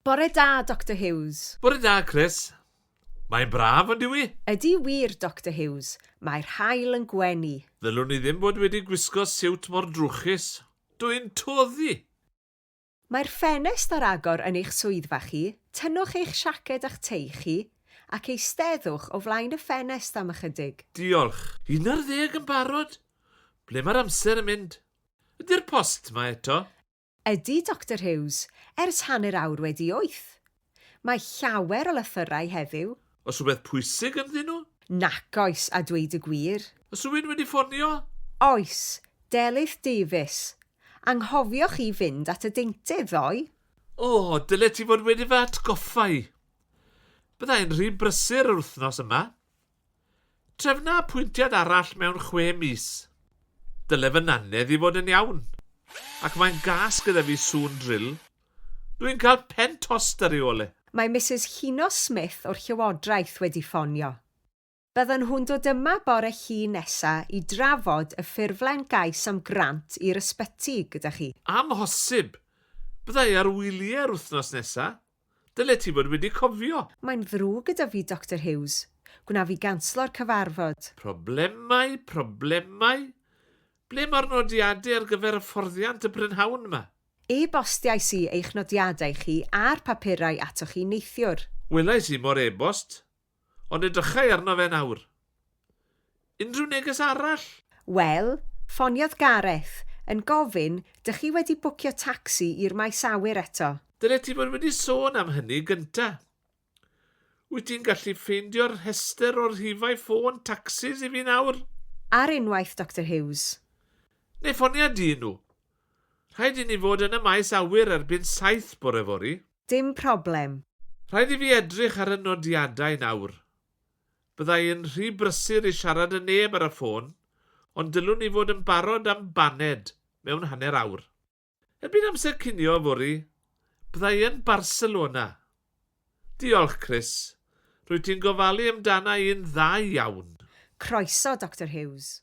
Bore da, Doctor Hughes. Bore da, Chris. Mae'n braf, yn dyw 'i? Ydy wir, Doctor Hughes. Mae'r haul yn gwenu. Ddylwn i ddim bod wedi gwisgo siwt mor drwchus. Dw i'n toddi! Mae'r ffenest ar agor yn eich swyddfa chi, tynnwch eich siaced a'ch tei chi, ac eisteddwch o flaen y ffenest am ychydig. Diolch. Un ar ddeg yn barod? Ble mae'r amser yn mynd? Ydy'r post 'ma eto? Ydy, Doctor Hughes, ers hanner awr wedi wyth. Mae llawer o lythyrau heddiw. Oes rhywbeth pwysig ynddyn nhw? Nac oes, a dweud y gwir. Oes rhywun wedi ffonio? Oes, Delyth Davies. Anghofioch chi fynd at y deintydd ddoe? O, dylet ti fod wedi fy atgoffa i. Bydda i'n rhy brysur yr wythnos yma. Trefna apwyntiad arall mewn chwe mis. Dyle fy nannedd i fod yn iawn. Ac mae'n gas gyda fi sŵn drill. Dw i'n cael pen tost ar ei ôl e. Mae Misus Llino Smith o'r Llywodraeth wedi ffonio. Byddan nhw'n dod yma bore Llun nesa i drafod y ffurflen gais am grant i'r ysbyty gyda chi. Amhosib! Bydda i ar wylie yr wythnos nesa. Dyle ti fod wedi cofio! Mae'n ddrwg gyda fi, Doctor Hughes. Gwna fi ganslo'r cyfarfod. Problemau, problemau? Ble mae'r nodiadau ar gyfer hyfforddiant y prynhawn yma? E-bostiais i eich nodiadau chi a'r papurau atoch chi neithiwr. Welais i mo'r e-bost. Ond edrychai arno fe nawr. Unrhyw neges arall? Wel, ffoniodd Gareth, yn gofyn, dych chi wedi bwcio tacsi i'r maes awyr eto? Dylet ti fod wedi sôn am hynny gynta. Wyt ti'n gallu ffeindio'r rhestr o rhifau ffôn tacsis i fi nawr? Ar unwaith, Doctor Hughes. Neu ffonia dyn nhw. Rhaid i ni fod yn y maes awyr erbyn saith bore fory. Dim problem. Rhaid i fi edrych ar y nodiadau nawr. Bydda i yn rhy brysur i siarad â neb ar y ffôn, ond dylwn i fod yn barod am baned mewn hanner awr. Erbyn amser cinio yfory, bydda i yn Barcelona. Diolch, Chris. Rwyt ti'n gofalu amdana i'n dda iawn. Croeso, Doctor Hughes.